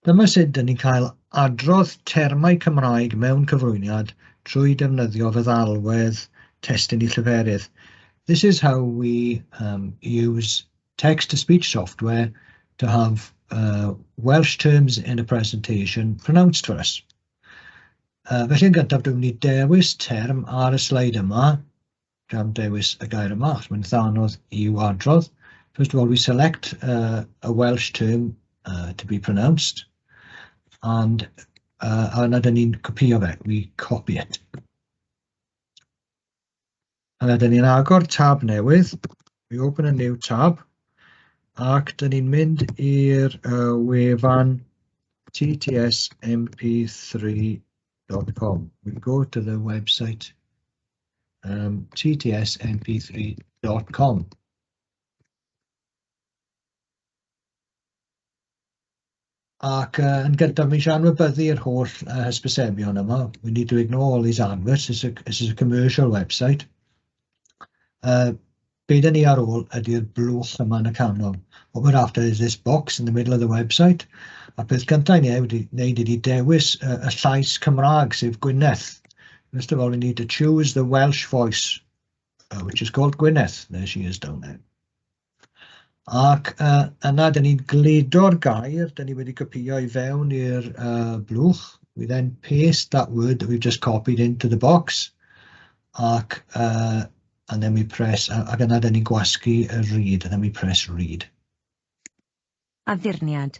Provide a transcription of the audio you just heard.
Dyma sut dyn ni'n cael adrodd termau Cymraeg mewn cyflwyniad trwy defnyddio feddalwedd testun i lleferydd. This is how we um, use text-to-speech software to have uh, Welsh terms in a presentation pronounced for us. Uh, felly yn gyntaf dwi'n mynd i dewis term ar y sleid yma, gan dewis y gair yma, achos mae'n itha' anodd i'w adrodd, first of all we select yy a Welsh term yy to be pronounced, and yy a yna 'dan ni'n copïo fe, we copy it, a 'dyn ni'n agor tab newydd, we open a new tab, ac 'dan ni'n mynd i'r yy wefan TTS MP3 dot com, we go to the website um, ttsmp3.com. Ac uh, yn gyntaf, mi eisiau anwybyddu'r holl uh, hysbysebion yma. We need to ignore all these adverts, this is a, this is a commercial website. Uh, be dan ni ar ôl ydy'r blwch yma yn y canol. What we're after is this box in the middle of the website. A peth cyntaf ni wedi wneud ydy dewis y, y llais Cymraeg, sef Gwyneth. First of all, we need to choose the Welsh voice, uh, which is called Gwyneth. There she is down there. Ac uh, yna, dyn ni'n gludo'r gair, dyn ni wedi copio i fewn i'r uh, blwch. We then paste that word that we've just copied into the box. ac yy and then we press a ac yna 'da ni'n gwasgu y read and then we press read. Addurniad.